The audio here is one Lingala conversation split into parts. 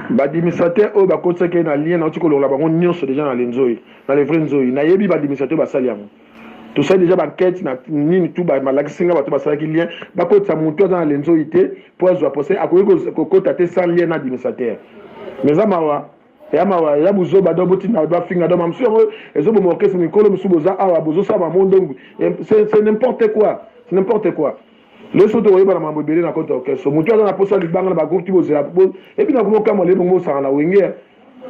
Badimisateur oyo bakotisaki ye na lien nauti kolongola bango nyonso deja na lenzoi na le vrai nzoi nayebi badimisateur basali yango tosali deja bankete na nini tu malakisi nga bato basalaki lien bakotisa motu aza na lenzoi te mpo azwa pose akoki kokota te sans lien na adimisateur mais eza mawa ya mawa ya buzoba do botinda ba finga do mamsu yango ezo boma orchestre mikolo misu boza awa bozo saba mondongu c'est n'importe quoi c'est n'importe quoi le soto oyeba na mambo ebele na kota orchestre mutu aza na posa libanga na ba groupe ti bozela ebi na kuma kama le bongo osanga na wenge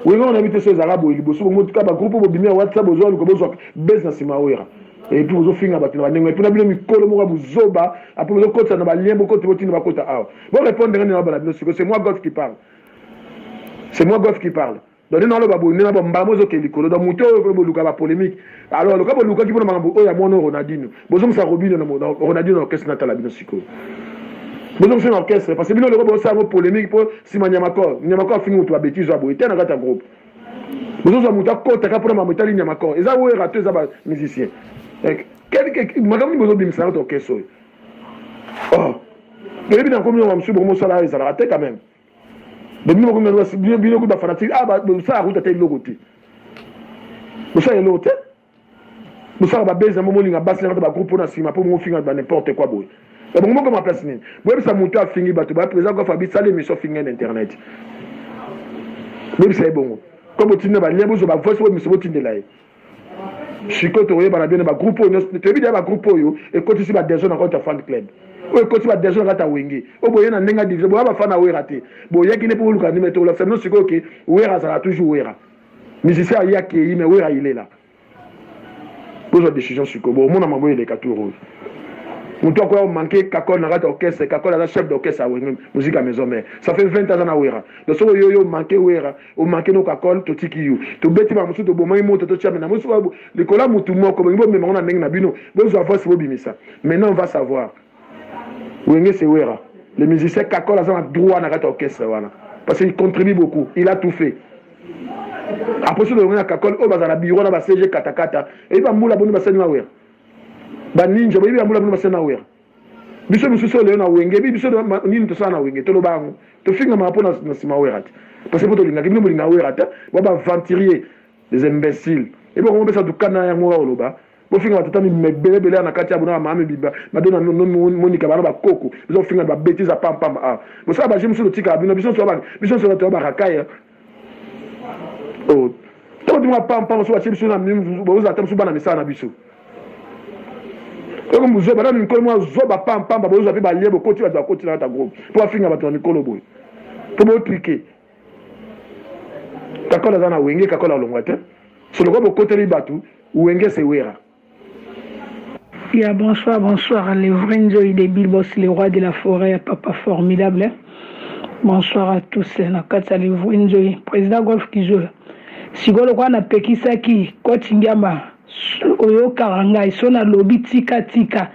wenge on habite so ezaka boye liboso bongo tuka ba groupe bobimi ya whatsapp bozo aluka bozo base na sima oyera et puis bozo finga bato na bandengo et puis na bino mikolo moko buzoba après bozo kotisa na ba lien bokoti botinda bakota awa bo répondre ngani na bana bino siko c'est moi God qui parle c'est moi gof qui parle donc nde naloba boye nde naloba mbala mo ezokende likolo donc moto oyo boluka bapolémique alors loka bolukaki mpona makambo oyo ya mwana ronaldino bozongisa robino ronaldino na orchestre natala bino sikoyo bozongisa na orchestre parce que bino loka bosala yango polémique mpo nsima nyamakor nyamakor afingi moto babetise ya boye te na kati ya groupe bozozwa moto akotaka mpona makambo etali nyamakor eza wera to eza bamusicien eh, makambo nini bozobimisa na kati orchestre oyo oh boyebi na komi yango mosusu bokomosala ayo ezalaka te quand même bobino bokomi yango bino bino kuta fanatique ah bosala kuta te eloko te bosala eloko te bosala babezi yango molinga basi nakata bagroupe mpo na nsima mpo mofinga ba n'importe quoi boye bango moko maplace nini boyebisa moto afingi bato ba président kofa bisala émission fingi na internet boyebisa ye bongo ko botinda balien bozwa bavoice oyo miso botindela ye sikoyo tokoyebana bino ba groupe oyo nyonso toyebi deya ba groupe oyo ekotisi ba desordre na kati ya fan club oyo ekotisi ba desordre na kati ya wenge oyo boye na ndenge ya division boya bafana ya wera te boyaki nde mpo boluka ndime te olakisa bino sikoyo ke wera azalaka toujours wera musicien aye akei me wera ilela bozwa decision sikoyo bomona mambo eleka tour oyo moto akoya omanke kakole na kati ya orchestre kakole aza chef d'orchestre ya wenge muzika maison mare ça fait 20 aza na wera donc soki oyoyo manke wera omake no kakol totiki yo tobeti ba mosusu tobomaki moto totia mena mosusu babu likolo ya motu moko bolingi bomema yango na ndenge na bino bozwa voice bobimisa maintenant on va savoir wenge sewera le musicien kakol aza na droit na kati ya orchestre wana parce qu'il contribue beaucoup il a tout fait aposi lolongo ya kakol oyo bazala bureau na ba cg katakata eyebi bambula boni basali na wera baninja boyebi bambula boni basali na wera biso misusu lelo na wenge bi biso nini tosala na wenge toloba yango tofingamaka mpo na nsima wera te parce mpo tolingaki bino bolinga wera te bo baaventurier des imbéciles ebi okomo besa dukana yango oka koloba bofinga batata mibelebele ya na kati ya bonaa mame biba madona monika bana bakoko biso kofinga babetise apampamba awa bosala baje mosusu totikaka bino biso nso biso nso bato ya barakaya oh, tokotima pampa mosusu batie biso na bozala ata mosusu bana misala na biso eko mozoba na mikolo mwa zoba pampamba bozwa mpe balie bokoti bato bakoti na kata groupe mpo bafinga bato na mikolo boye mpo botrike kakola aza na wenge kakola olongwa te soloko bokoteli bato wenge sewera Ya bonsoir bonsoir le vrai nzoi de Bilbos le roi de la forêt ya papa formidable bonsoir à tous na kati ya le vrai nzoi président golf kizola sikoyo lokola napekisaki koti ngiamba oyokaka ngai so nalobi tika tika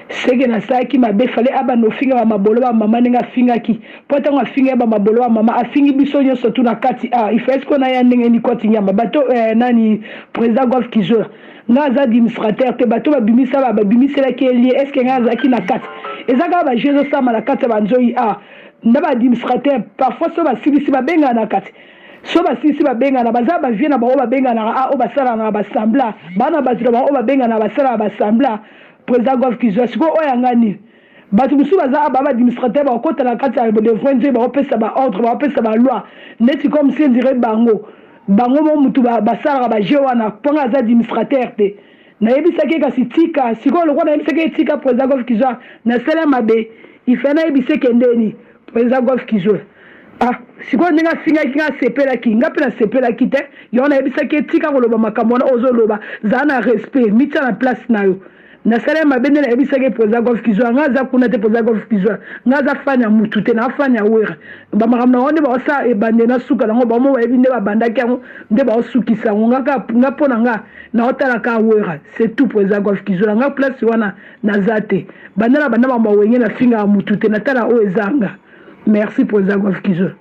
Seke nasalaki mabe fale abanda ofinga ba mabolo ba mama ndenge afingaki po tango afinga ye ba mabolo ba mama afingi biso nioso tu na kati ah il fallait sikoyo naya ndenge ni koti nyama bato eh, nani president golf kizola nga aza administrateur te bato babimisa ba babimiselaki ye lie eske nga azalaki na kati eza kaka ba jeu ezosama na kati ya banzoyi ah nda ba administrateur parfois so basilisi babengana na kati so basilisi babengana baza bavie na bango babenganaka a oyo basalanaka basambla bana bato na bango oyo babenganaka basalaka basambla President Gof Kizua sikoyo oyo ya nga nini? Bato mosusu baza awa, ba ba administrateurs bakokota na kati ya devoin te, bakopesa ba ordres, bakopesa ba lois neti comme si on dirait bango bango moko mutu ba basalaka ba jeux wana mpo nga naza administrateur te. Nayebisaki ye kasi tika, sikoyo lokola nayebisaki ye tika President Gof Kizua nasali ye mabe, il fallait nayebisa ye kendeni. Eza golf kizola. Ah, sikoyo ndenge afingaki nga asepelaki nga mpe nasepelaki te yango nayebisaki ye tika koloba makambo wana ozoloba zala na respect mitya na place na yo nasala ye mabe nde nayebisaki ye président golf kizwa nga aza kuna te président golf kizwa nga aza fani ya mutu te naa fani ya wera bamakambo na bango nde baosala ebande na suka nango bamo bayebi nde babandaki yango nde baosukisa yango nga mpo na nga naotalaka wera c'est tout président golf kizwa nga place wana Naza te. Banda na banda makambo ya wenge na fingaka mutu te na tala oyo eza nga. Merci president Guavkizo.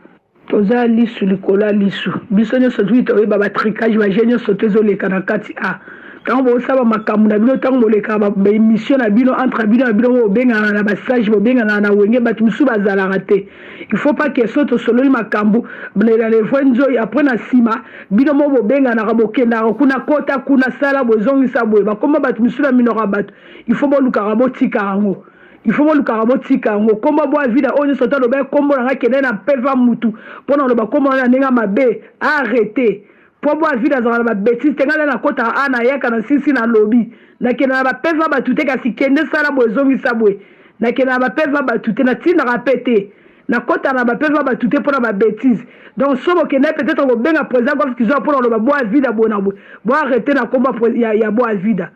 Oza lisu likolo ya lisu. Biso nionso tout toyeba ba tricage ba jeux nionso to ezo leka na kati a. Tango bo sala ba makambo na bino tango bolekaka ba emission na bino entre bino na bino bo bengana na ba sage bo bengana na wenge batu mususu bazalaka te. Il faut pas que so tosololi makambu na le vrai nzoyi après na sima bino mo bobenganaka bokendaka kuna kota kuna sala boye zongisa boye bakoma bato misusu na minoko ya bato il faut bolukaka botika yango il faut bolukaka botika yango kombo bwa vida oyo nyonso ata loba kombo na ngai kende na peva mutu mpo na loba kombo na ndenge mabe arrete Po boa vide azalaka na ba betise te nga lelo nakotaka awa nayaka na sisi na lobi nakenda na ba peva batu te kasi kende sala boye zongisa boye nakenda na ba peva batu te natindaka pe te nakotaka na ba peva batu te pona ba betise donc soki bokendaki peut-etre kobenga president golf kizoa pona koloba boa vida boye na boye bo arrete na kombo ya, ya, ya boa vida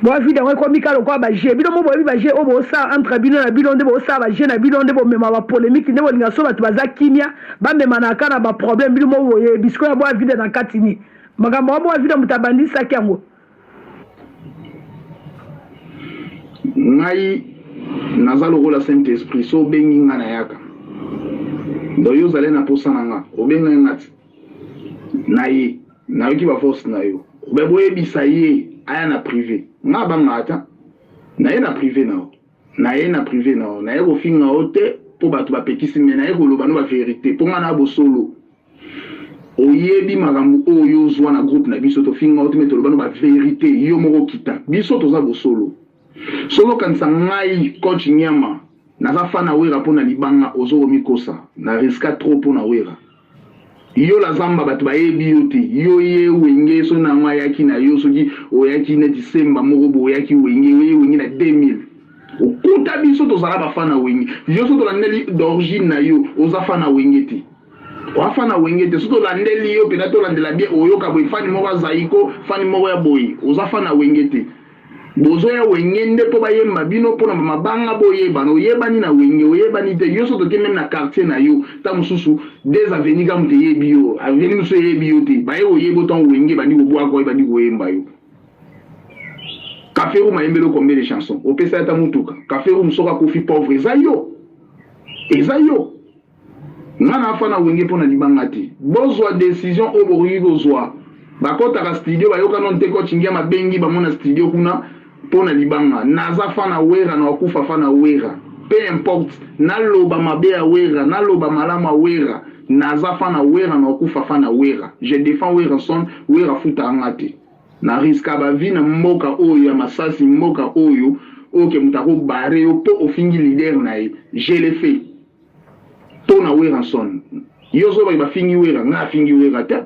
bwa vide yango ekomi kaka lokola baje bino mo boyebi baje oyo bosala entre bino na bino nde bosala baje na bino nde bomema bapolemiki nde bolinga so bato baza kimia bamemanaka kaka na baproblème bino mo boyebi sikoyo ya bwa vide na kati ni makambo yango bwa vide moto abandisaki yango ngai naza lokola saint esprit so obengi ngai nayaka donc yo ozali na mposa na nga obengai nga ti na ye nayoki ba force na yo me boyebisa ye aya na prive nga banga ata naye na prive na yo naye na prive na yo naye kofinga yo te mpo bato bapekisi me naye koloba no baverite mpo nga na bosolo oyebi makambo oyo ozwa na groupe na biso tofinga yo te me toloba no baverite yo moko kita biso toza bosolo soki okanisa ngai coach nyama naza fana wera mpo na libanga ozokomikosa na riska trop mpo na wera Yo la zamba bato bayebi yo te yo ye wenge so nango ayaki na yo soki oyaki neti semba moko bo oyaki wenge yo ye wenge na 2000 okuta biso tozala ba fan na wenge yo so tolandeli d'origine na yo oza fan na wenge te oa fan na wenge te so tolandeli yo pena tolandela bien oyoka boye fani moko ya zaiko fani moko ya boye oza fan na wenge te Bozo ya wenge nde po bayemba bino pona ba mabanga boyebana oyebani na wenge oyebani te yo so toke meme na quartier na yo ta mususu des avenue ka moto eyebi yo avenue mosusu eyebi yo te baye oyeba otango wenge bandi kobwaka oye bandi koyemba yo Kaferu mayembelo combien de chansons opesa ata mutuka Kaferu musoka kofi pauvre eza yo eza yo Nga na fa na wenge pona libanga te. Bozwa decision oyo bokoki kozwa. Bakotaka studio bayoka no nte coach ngiama abengi bango na studio kuna pona libanga. Naza fa na werra na okufa fa na werra. Peu importe na loba mabe ya werra na loba malamu ya werra naza fa na werra na okufa fa na werra. Je defend werrason werra afutaka nga te. Na risquer ba vie na mboka oyo ya masasi mboka oyo ok mutu ako barrer yo po ofingi leader naye je le fais. to na Werrason yo zoba ba fingi Werra nga fingi Werra te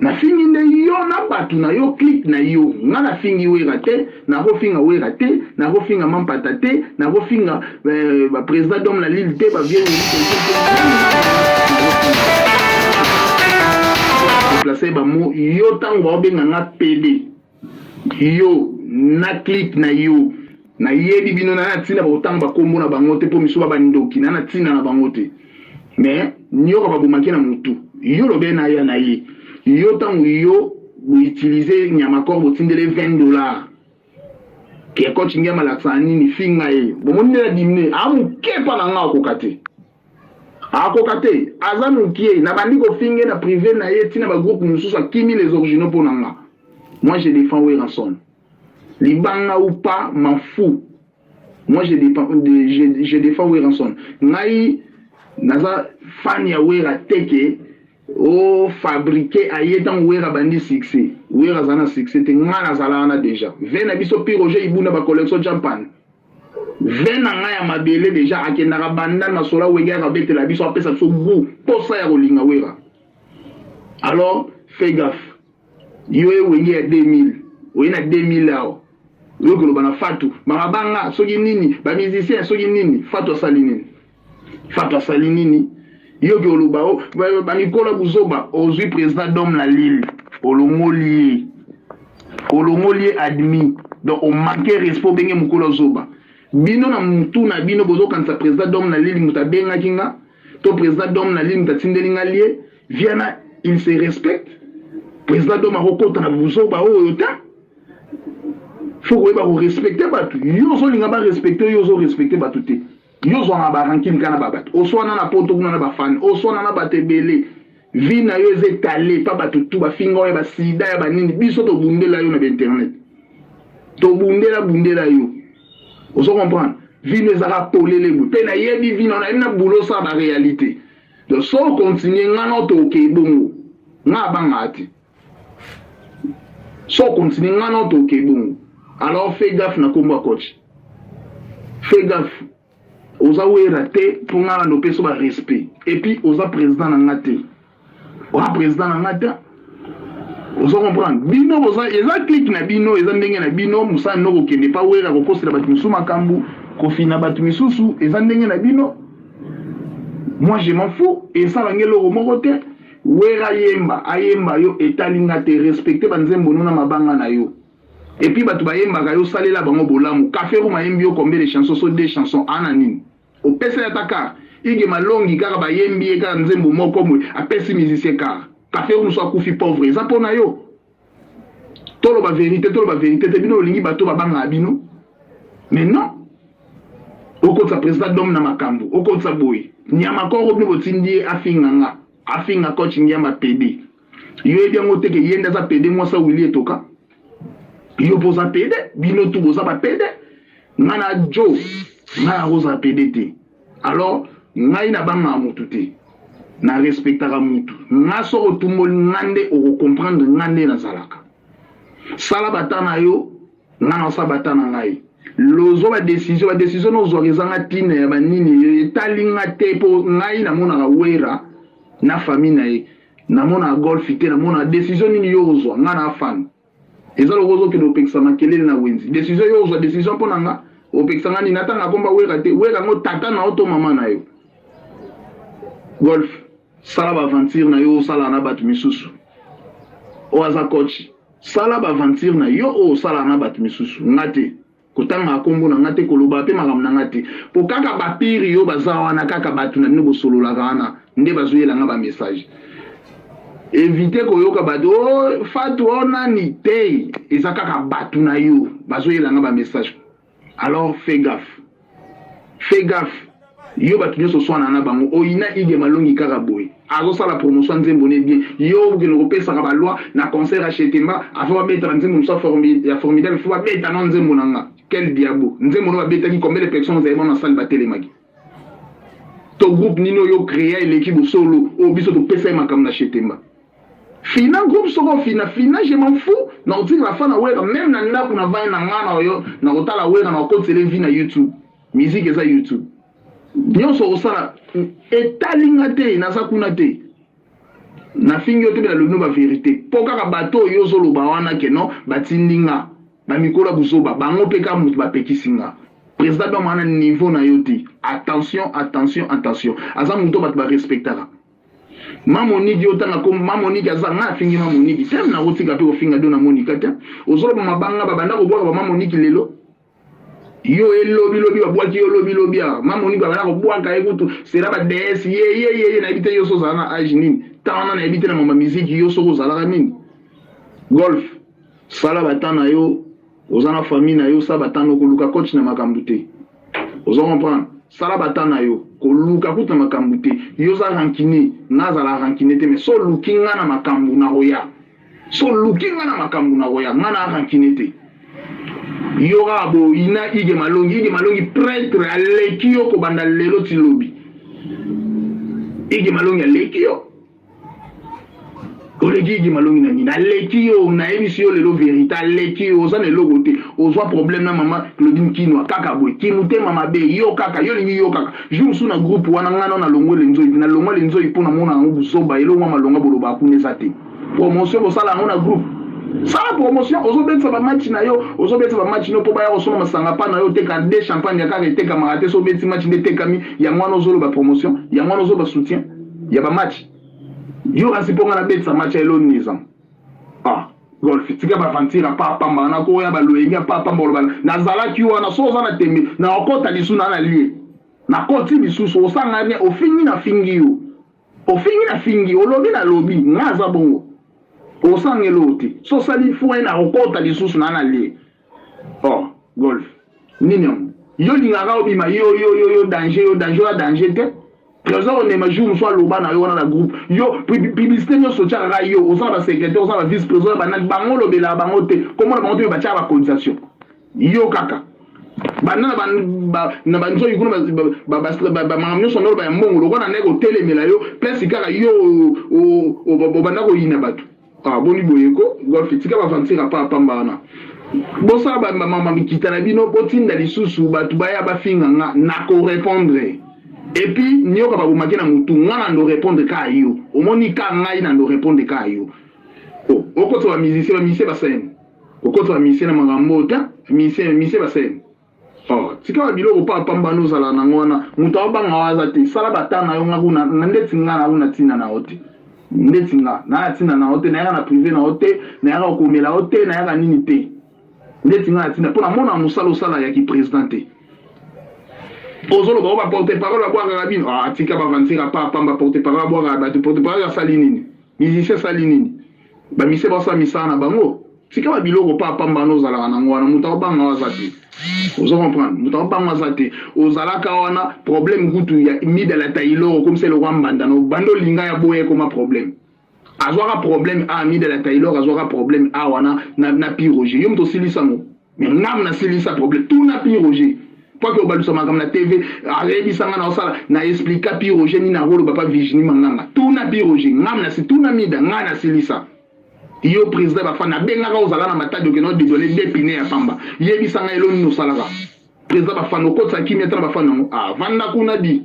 na fingi nde yo na batu na yo clip na yo nga na fingi Werra te na ko finga Werra te na ko finga Mampata te na ko finga euh, ba president d'homme la lille te ba vieux placer ba mots yo tango ba benga nga pede Yo na clique na yo na yebi bino na na tina bako tanga ba kombo na bango te po misuba ba ndoki na na tina na bango te mais nioka ba bomaki na mutu yo lobe na ya na ye yo tangu yo bo utilise nyama corps bo tindele 20 dollars ke coach ngiama lakisa nini finga ye bomoni ndela dimine a muke pa na nga akoka te akoka te aza mukie nabandi kofinge na prive na ye ntina bagroupe mosusu akimi les originaux mpo na nga moi je défends werrason libanga ou pas m'en fou moi je, dépend, de, je, je défends werrason ngai naza fan ya wera teke o fabriquer aye ntango wera bandi succès wera aza na succès te ngai nazalaka na déjà ve na biso piroge ibunda bacollection jampane Vin na nga ya mabele deja akendaka bandal na sola wenge yaka betela biso apesa biso gout posa ya kolinga wera alors fais gaffe yo ye wenge ya 2000 oye na 2000 awa oye koloba na fatu makabanga soki nini ba musicien soki nini fatu asali nini Fata sali nini yo ke oloba o oh, banikola buzoba ozwi president dom na lile olongoli ye olongoli ye admi donc omanke respect obenge mokolo zoba bino na mutu na bino bozokanisa president dom na lile moto abengaki nga to president dom na lile moto atindeli nga lie viana il se respecte president dom akokota na buzoba oyo te fo koyeba korespecte bato yo ozolinga barespecte yo ozorespekte bato te yo ozwaka ba rancune kaka na ba bato oswana na poto kuna na ba fan oswana na bato ebele vie na yo eza etale pa bato tu bafinga oyo ya basida ya banini biso tobundela yo na bainternet tobundela bundela yo ozo comprendre vie no ezaka polele boye mpe nayebi vie na nayebi na boulot sa barealité donc so okontinue ngai na otoke ebongo ngai abangaka te so continue nga no toke bongo alors fais gaffe na kombo ya coach fais gaffe oza wera te mpo nga nando opesa ba respect epuis oza président na nga te oza président na nga te ozo comprendre bino boza eza clique na bino eza ndenge na bino mosala no kokende pa wera kokosela bato mosusu makambo kofina bato misusu eza ndenge na bino moi je m'en fous esala nge eloko moko te Werra yemba ayemba yo etali nga te respecte ba nzembo no na mabanga na yo et puis batu bayembaka yo salela bango bolamu cafe room ayembi yo combien de chansons so deux chansons ana nini opesa ya ta car ige malongi kaka bayembi ye kaka nzembo moko mwe apesi musicien car cafe room so akufi pauvre eza pona yo toloba verite toloba verite te bino olingi bato babangaka bino mais non okotisa président dome na makambo okotisa boye nyama koko bino botindi ye afinga nga afinga coach ngiamba pede yo yebi yango teke ye nde aza pede mwasi awili etoka yo mpo oza pede bino tu boza bapede nga na jo nga nakozala pede te Alors ngai na banga mutu te. Na respectaka mutu. Nga so otumboli nga nde oko comprendre nga nde nazalaka. Sala bata na yo, nga na sa bata na ngai. lozo ba decision ba decision nozwaka ezanga ntina ya banini etali nga te mpo ngai namonaka wera na famille na ye namonaka golf te namonaka decision nini yo ozwa ngai na afana Eza lokola ozokende opekisa makelele na wenzi. Decision yo ozwa decision mpo na nga opekisa nga nini? Natanga komba wera te. Wera yango tata na yo to mama na yo. Golf sala ba aventure na yo osala na bato misusu. Oyo aza coach sala ba aventure na yo oyo osala na bato misusu. Nga te. kotanga kombo na nga te koloba pe makambo na nga te po kaka ba pire yo baza wana kaka bato na bino bosololaka wana nde bazoyela nga ba message evite koyoka bato o oh, fatu o oh, nani te eza kaka bato na yo bazoyela nga ba message alors fais gaffe fais gaffe yo bato nyonso oswana na bango oyina ige malongi kaka boye azosala promotion ya nzembo ne bien yo okende kopesaka baloi na concert ya chetemba afo babeta na nzembo mosusu ya formidable fo babeta na nzembo na nga quel diabo nzembo no babetaki combien de personnes ozali mwana sali batelemaki to groupe nini oyo créa eleki bosolo oyo biso topesa ye makambo na chetemba fina groupe soko fina fina je m'en fou nakotikela fa na wera meme na ndako na vai na nga na oyo nakotala wera nakokotisele vi na youtube Musique eza YouTube. Nyonso osala etali nga te, naza kuna te. Nafingi yo te bela lobi no ba verite. Po kaka bato oyo ozoloba wana ke no batindi nga. Ba mikola buzoba bango pe ka mutu bapekisi nga. President Bemba wana niveau na yo te. Attention, attention, attention. Aza mutu oyo bato ba respectaka. Mamonigi otanga ko Mamonigi aza nga afingi Mamonigi. Tem na kotika pe kofinga Dona Monica te. Ozoloba mabanga babanda kobwaka ba Mamonigi lelo. yo elobi lobi babwaki yo lobi lobi awa ma monique babanda kobwaka ye kutu sera ba ds yeyeyeye nayebi te yo so ozala na age nini ntango wana nayebi te na mama miziki yo soki ozalaka nini golf sala batan na yo oza na famille na yo sala batan na yo koluka coach na makambo te ozo comprendre sala batan na yo koluka kutu na makambo te yo oza rankine nga azala rankine te mais so oluki nga na makambo nakoya So luki nga na makambo na koya nga na rancune te. Yoka bo ina ige malongi ige malongi prêtre aleki yo ko banda lelo ti lobi. Ige malongi aleki yo. oleki igi malongi na nini aleki yo nayebisi yo lelo verité aleki yo oza na eloko te ozwa problème na mama claudine kinwa kaka boye kimotema mabe yo kaka yo olingi yo kaka jour mosusu na groupe wana ngai nao nalongwe lenzoi nalongwa lenzoi mpo namona yango buzoba eloko mwa malonga bolobaka kuna eza te promotion bosala yango na groupe sala promotion ozobetisa bamatch na yo ozobetisa bamatch no mpo baya kosomba masanga pa na yo oteka de champagne ya kaka etekamaka te so obetisi match nde etekami yango wana ozoloba promotion yango wana ozoloba soutien ya bamatch yo kasi mpo ngai nabetisa match ya elonizam ah golf tika bavantira pa pamba na koya baloyenge pa pamba oloba nazalaki wana so oza na tembe na okota lisu na na lie nakoti lisusu osanga bien ofingi na fingi yo Ofingi na fingi, olobi na lobi, nga aza bongo. Osangeli oyo te. So sali foin na okota lisusu na na lie. Oh, golf. Nini yango? Yo lingaka obima yo yo yo yo danger yo danger ya danger te. Trésor onema jour mosusu aloba na yo wana na groupe yo publicité nyonso otyaka kaka yo oza na basecrétaire oza na vice président banani bango olobelaka bango te komona bango te me batyaka bacotisation yo kaka banda na banzoki kuna bamakambo nyonso ndolo baya mbongo lokola na ndenge kotelemela yo place kaka yo obanda koyina bato ah, boni boyeko golf tika bavantira pa pamba wana bosala bamama mikita na bino botinda lisusu bato baya bafinga nga na korepondre epuis nioka babomaki na motu nga na ndo repondre ka yo omoni ka ngai na ndo repondre ka yo oh, okotisa bamusicien bamusicien basene Okoto amise na makambo oyo ta mise mise basene. Oh, tika ba biloko pa pamba no zala na ngwana. Mutu abanga waza te. Sala bata na yo nga kuna na ndeti nga na kuna tina na ote. Ndeti nga na ya tina na ote na yaka na privé na ote na yaka okomela ote na yaka nini te. Ndeti nga na tina pona mona musala osala ya ki president te. Ozoloba oba porte parole abwaka kabino. Ah, tika ba vanzira pa pamba porte parole abwaka bato porte parole asali nini? Musicien asali nini? bamise basala misala na bango tika ba biloko pa pamba wana ozalaka nango wana moto akobanga waza te ozo comprendre moto akobanga waza te ozalaka wana problème kutu ya mida la tailor okomisa eloko ya mbanda no banda olinga ya boya ekoma problème azwaka problème a mida la tailor azwaka problème a wana na, na piroge yo moto osilisa ngo Mais ngai na silisa problème. Tuna Pi Roger. Mpo ake obalusa makambo na TV, ayebisa ngai na osala, na explika Pi Roger nini akoloba pa Virginie Manganga. Tuna Pi Roger. Ngai na si tuna Mida, ngai na silisa. Yo president ba fan abengaka ozala na matadi okenda odedole de pine ya pamba. Yebisa ngai elo nini osalaka. President ba fan okotisa kimia tala ba fan yango. Ah, vanda kuna di.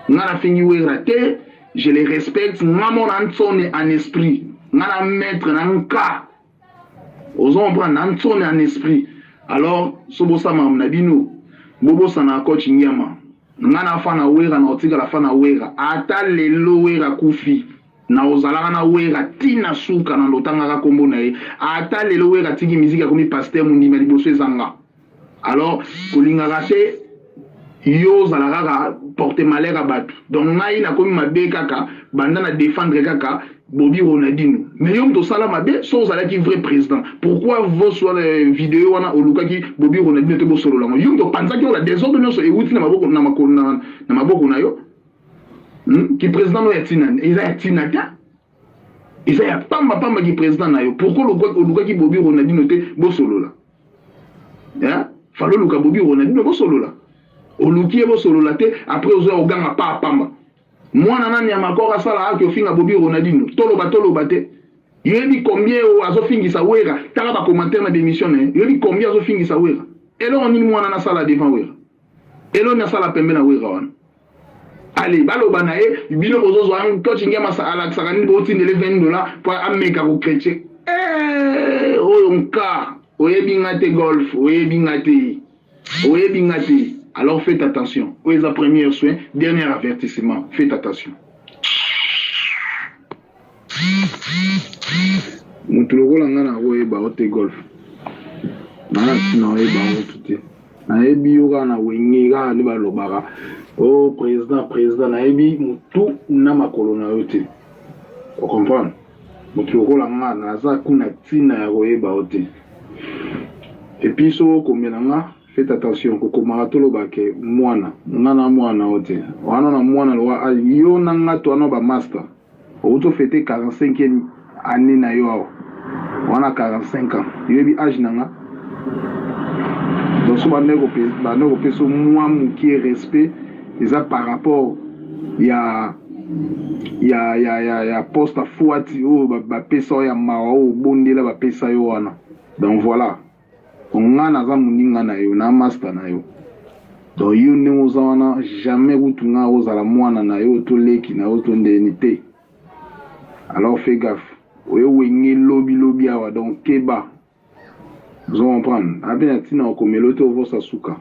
Ngai na fingi wera te, je le respecte, ngai mona nsone en esprit. Ngai na maître na nka ozo comprendre na nsone en esprit alors so bosa makambo na bino bobosana coach ngiama nga na fana wera na otikala fana wera ata lelo wera kufi na ozalaka na wera ti na suka na lotangaka kombo na ye ata lelo wera tiki miziki akomi pasteur mondima liboso eza nga Alors kolingaka te yo ozala kaka porte malheur ya batu donc ngai nakomi mabe kaka banda na defendre kaka bobi ronadino mais yo moto osala mabe so ozalaki vrai président pourquoi vos wana euh, video wana olukaki bobi ronadino te bosolola ngo yo moto opanzaki ola desordre nyonso ewuti na maboko na, na, na maboko na yo hmm? ki président no ya tina eza ya tina te eza ya pamba pamba ki president na yo pourquoi olukaki bobi ronaldino te bosolola hein? falo oluka bobi ronaldino bosolola oluki ye bosolola te après ozoya oganga pa pamba mwana nani ya makor asala aki ofinga bobi ronaldino toloba toloba te yoyebi combien oyo azofingisa wera tala bacommentaire na bemission na ye yoyebi combien azofingisa wera eloko nini mwana nasala devant wera eloko nini asala pembe na wera wana ale baloba na ye bino bozozwa coach ngiamasa alakisaka nini botindele 20 dola mpo ameka kokretie eh, oyo nka oyebi nga te golf oyebi nga te oyebi nga te alors faites attention oyo eza première soin dernier avertissement faites attention moto lokola ngai nakoyeba yo te golf nanga ntina oyeba motu te nayebi yo kaka na wenge kaka nde balobaka o oh, président président nayebi motu na makolo na yo te ocomprendre moto lokola nga naza kuna ntina ya koyeba yo te epuis soko okomela nga Faites attention kokomaka toloba ke mwana nga na mwana na yo te wana na mwana lowa yo na nga to wana ba masta outi ofete 45e annee na yo awa wana 45 ans yo yebi age na nga donc so bande bande kopesa mwa mokie respect eza par rapport ya ya ya ya ya poste afuati oyo bapesa yo ya mawa oyo obondela bapesa yo wana donc voilà Nga naza muninga nayo na masta nayo donc yo ndenge oza wana jamais kutu nga akozala mwana nayo to leki nayo to ndeni te alors fais gaffe oyo wenge lobi lobi awa donc keba ozo comprendre ape na tina okomelo te ovosa suka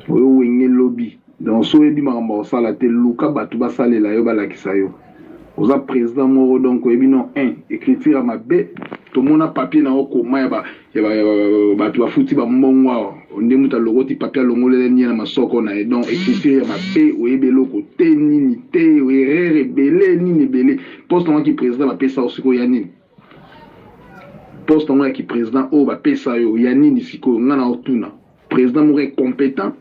Oyo wenge lobi donc soki oyebi makambo ya kosala te luka batu basalela yo balakisa yo oza president moko donc oyebi no un ecriture ya mabe tomona papier na yo koma ya ba ya ba ya ba batu bafuti ba mbongo awa onde mutu alokoti papier alongolela nie na masoko na ye donc ecriture ya mabe oyebi eloko te nini te erreur ebele nini ebele poste na ki president bapesa osiko ya nini poste yango ya ki president oyo bapesa yo ya nini sikoyo nga na otuna president moko incompetent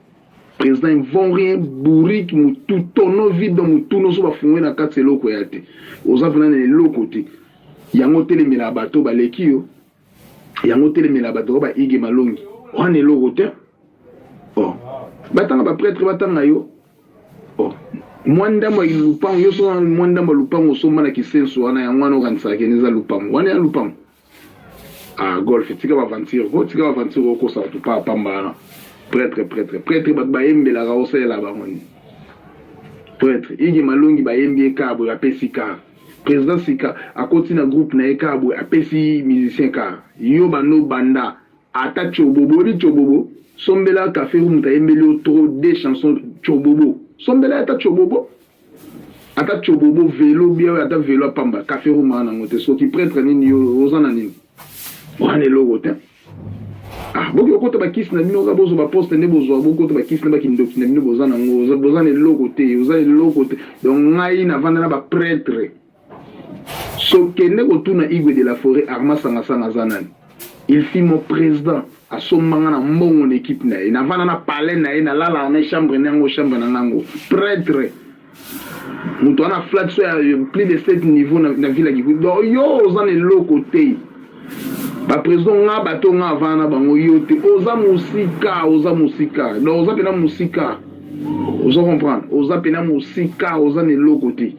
president invon rien bourrique mutu tono vide mutu noso bafungwe na kati eloko ya te oza mpena na eloko te yango otelemela bato baleki yo yango otelemela bato oyo baige malongi wana eloko te oh. batanga bapretre batanga yo Oh, mwa ndambo ya lupango yo soki mwa ndambo ya lupango osomba na kisenso wana yango wana okanisaka kende eza lupango wana ya lupango ah golf tika baventure o oh, tika baventure okosa bato pa pamba wana pretre pretre pretre bato bayembelaka osalela bango nini pretre igi malongi bayembi ekaa boye bapesi kaa président sika akoti na groupe na ye kaa boye apesi musicien kaa yo bando banda Ata tshobobo oyebi tshobobo sombela cafe ou mutu ayembeli yo trop de chanson tshobobo sombela ata tshobobo ata tshobobo velo bia ata velo apamba cafe room ana ngo te soki pretre nini yo oza na nini wana eloko te ah boki okota ba kisi na bino kaka bozo ba poste nde bozwa bokota ba kisi na ba kindoki na bino boza na ngo boza na eloko te oza eloko te donc ngai navanda na ba pretre So kende kotuna igwe de la foret arma sanga sanga aza nani il fit mon president asomba nga na mbongo na ekipe na ye navanda na palais na ye nalalaka na chambre na yango chambre na ngango pretre moto wana aflaki so ya plus de 7 niveau na, na villa kikutu donc yo oza na eloko te Ba president nga bato nga avana na bango yo te oza musika oza musika donc oza pena musika ozo comprendre oza pena musika oza na eloko te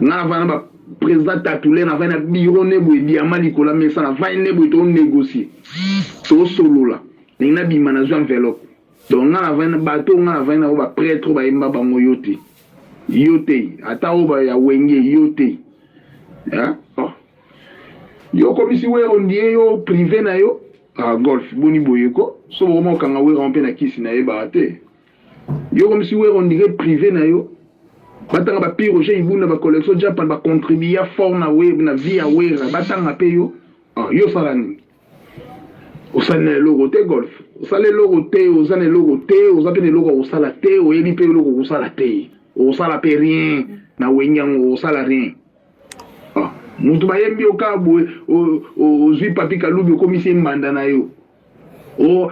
nga avana ba president tatule na vana biro ne boye diama likola mesa na vani ne boye to négocier to solola ndenge na bima na zwa enveloppe donc nga na vani bato nga na vani na ba prêtre ba yemba bango yo te yo te ata oba ya wenge yo te hein Yo okomisi wero ndie yo prive na yo ah, golf boni boye ko so bokoma kokanga wero mpe na kisi na yebaka te yo okomisi wero ndire prive na yo batanga ba pire oje ibunda ba collection japan ba contribuya fort na we na vie ya wera batanga mpe yo ah, yo osala nini osali na eloko te golf osala eloko te oza na eloko te oza mpe na eloko ya kosala te oyebi mpe eloko okosala te okosala mpe rien na wenge yango okosala rien moto bayembi yo kaka boye ozwi papi kalubi okomisi ye mbanda na yo o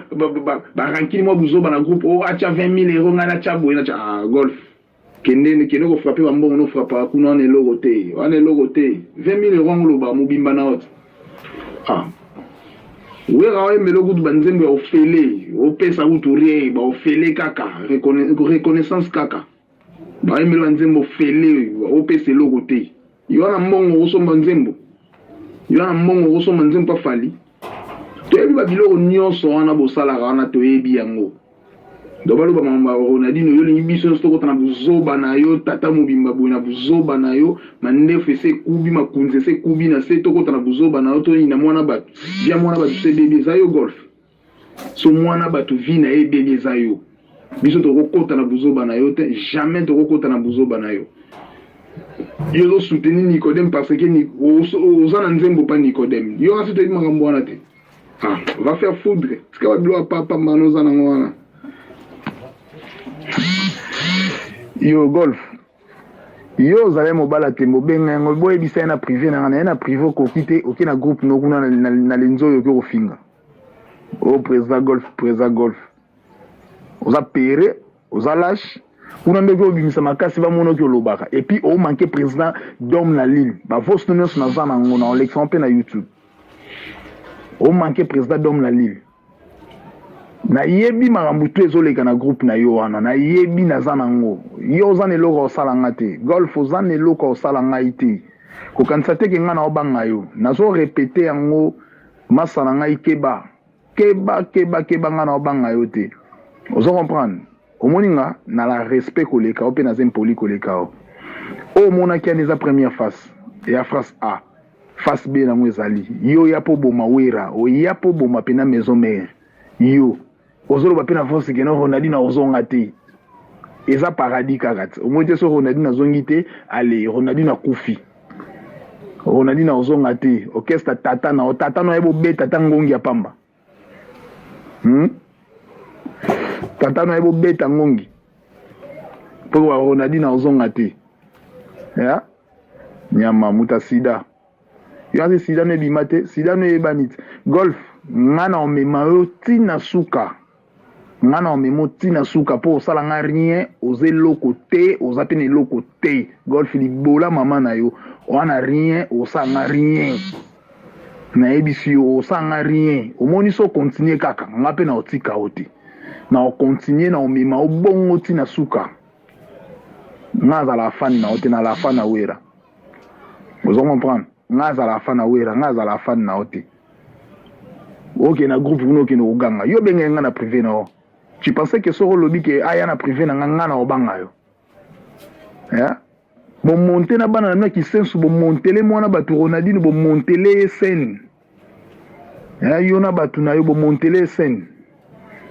barankini mwa buzoba na groupe o atya 20 000 euro ngai natya boye natya ah, golf kende kende kofrape bambongo nofrapaka kuna wana eloko te wana eloko te 20 000 euro yango oloba mobimba na ote ah. wera oyembela okutu banzembo ya ofele opesa kutu rie baofele kaka reconnaissance kaka Bayembela nzembo fele opesa eloko te. Yo na mbongo okosomba nzembo? Yo na mbongo okosomba nzembo pa Fally? Toyebi ba biloko nyonso wana bosalaka wana toyebi yango. Donc baloba makambo ya Ronaldinho yo olingi biso nyonso tokota na buzoba na yo tata mobimba boye na buzoba na yo mandefu ese ekubi makunzi ese ekubi na se tokota na buzoba na yo toyina mwana bato bya mwana bato se bebi eza yo golf so muana batu vie na ye ebebi eza yo biso tokokota na buzoba na yo te jamais tokokota na buzoba na yo yo ozo soutenir Nicodème parce que oza na nzembo pa Nicodème yo kasi toyebi makambo wana te ah va faire foudre tika ba bilo ya papa mbano oza nango wana yo golf yo ozali mobala te mobenga yango boyebisa ye na prive na nga na ye na prive okoki te oke na groupe nokuna na lenzo oyo oke kofinga oh président golf président golf oza pere oza lâche kuna nde okobimisa makasi bamona oki olobaka epuis omanke président dome na lille bavosno nyonso naza na yango na olekisama mpe na youtube omanke président dome na lille nayebi makambo tu ezoleka na groupe na yo wana nayebi naza na yango yo oza na eloko osala nga te golf oza na eloko osala ngai te kokanisa te ke ngai naobanga yo nazo repete yango Masta na ngai keba keba keba keba nga na obanga yo te ozo comprendre omoni nga na la respect koleka yo mpe naza impoli koleka yo oyo omonaki yana eza première face ya face a face b nango ezali yo ya mpo boma wera oya mpo boma mpena maison mare yo ozoloba mpe na voice keno ronaldine akozonga te eza paradis kaka te omoi te soki ronaldine azongi te ale ronaldine akufi ronaldine akozonga te orchestre tata na tata na ye bobeta ata ngongi ya pamba hmm? tata na ye bobeta ngongi mpo ronaldine akozonga te ya nyama muta sida yo aze sida no ebima te sida no eyebani te golf nga na omema yo ti na suka nga na omema ti na suka mpo osala nga rien oza eloko te oza mpe na eloko te golf libola mama na yo oza na rien osala nga rien nayebisi yo osala nga rien omoni so continue kaka nga mpe na otika yo te na ocontinue na omema obongo ti na suka nga azala afani na yo te na lafa na wera ozo comprendre nga azala fan na wera nga azala fan na yo te okende na groupe kuna okende koganga yo obengaki nga na prive na yo tu pensais ke soki olobi ke aya na prive na nga nga na obanga yo eh? bomonte na bana na bino ya kisensu bomontele mwana bato ronaldine bomontele ye sene Eh, yo na bato na yo bomontele esene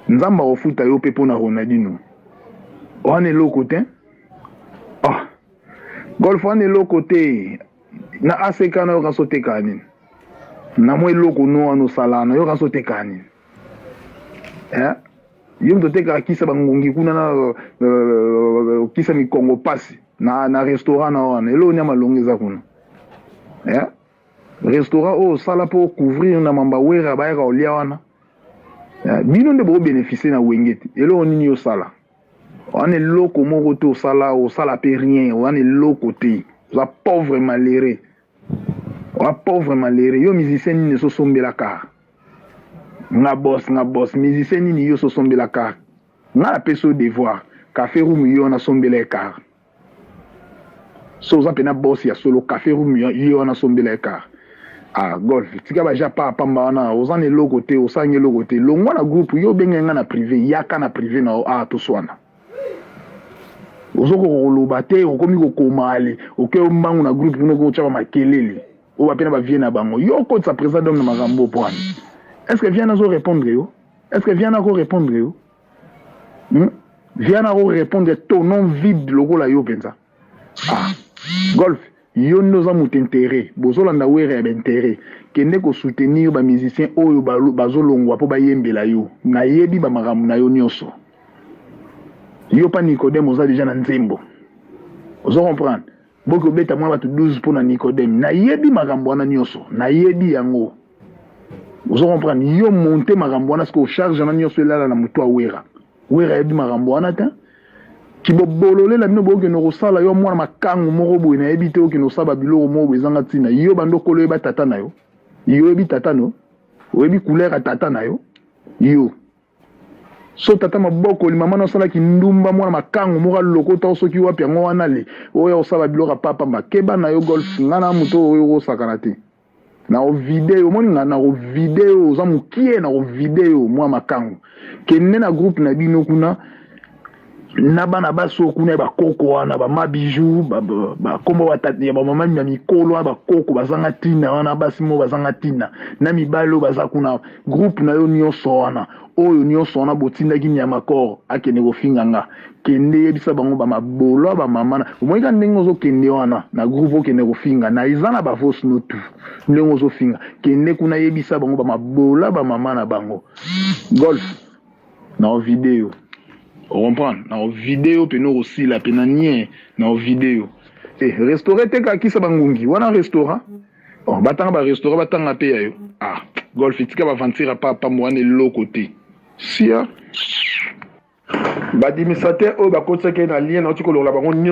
nzambe akofuta yo mpe mpo na ronaldino wana eloko te ah. golf wana eloko te na ack na yoka so tekaa nini na mwa eloko no wana osalaa na yoka so tekaa nini eh? yo moto otekaka kisa bangungi kuna na euh, euh, kisa mikongo pasi na, na restaurant na wana eloko nia malonga eza kuna eh? restaurant oyo osala po couvrir na mamba wera bayaka olia wana eh, bino nde boko beneficie na wenge te eloko nini osala wana eloko moko te osala osala pe rien wana eloko te oza pauvre malere oza pauvre malere yo musicien nini esosombela kar nga bos nga bos musicien nini yo sosombela kar nga napesi yo devoir cafe room yo nasombela ekar so oza mpena boss ya solo cafe room ye wana sombela ye car ah golf tika baja pa pamba wana oza na eloko te osangi eloko te longwa na groupe yo obenge ngai na prive yaka na prive na yo ah toswana ozokoka koloba te okomi kokoma ale oke yo mbangu na groupe kuna okoki kotyaka makelele oyo bapena bavie na bango yo okotisa président dome na makambo mpo wana est ce que viana azo répondre yo est ce que viana ako répondre yo hmm? viana ako répondre tonon vide lokola yo mpenza ah. golf yo nde oza moto intérêt bozolanda were ya baintérêt kende kosoutenir bamusicien oyo bazolongwa mpo bayembela yo nayebi bamakambo na yo nyonso yo mpa nicodème oza deja na nzembo ozo comprendre Boki obeta mwa bato 12 mpo na Nicodème. Nayebi makambo wana nyonso, nayebi yango. Ozo comprendre? Yo monte makambo wana sikoyo charge wana nyonso elala na moto ya Wera. Wera ayebi makambo wana te. Kibobolole na bino bokende kosala yo mwana makangu moko boye nayebi te okende kosala babiloko moko boye ezanga ntina. Yo bando okolo oyeba tata na yo. Yo oyebi tata na yo? Oyebi couleur ya tata na yo? Yo. so tata mabokoli mama na osala kindumba mwana makango moko alokota o soki wapi yango wana le oyo akosala biloko ya papamba keba na yo golf nga na moto oyo okosakana te na ovideo omoni nga na ovideo oza mokie na ovideo mwa makango kende na groupe na bino kuna na bana basi oyo kuna ya bakoko wana bama bijou bakombo batati ya bamama ya mikolo wana bakoko bazanga ntina wana basi moko bazanga ntina na mibali oyo baza kuna groupe na yo nyonso wana oyo nyonso wana botindaki nyamakor akende kofinga nga kende yebisa bango bamabolo ya bamama na omonika ndenge ozokende wana na groupe okende kofinga na eza na bavos no tu ndenge ozofinga kende kuna yebisa bango bamabolo ya bamama na bango golf na o video ocomprendre na o video pene okosila pe na nie na o video e eh, restaurant eteka kisa bangungi wana restaurant oh, batanga barestaurant batanga mpe ya yo ah golf etika baventure apa apambo wana eloko te sia badimisateur oyo bakotisaki na lien nauti kolongola bango nyonso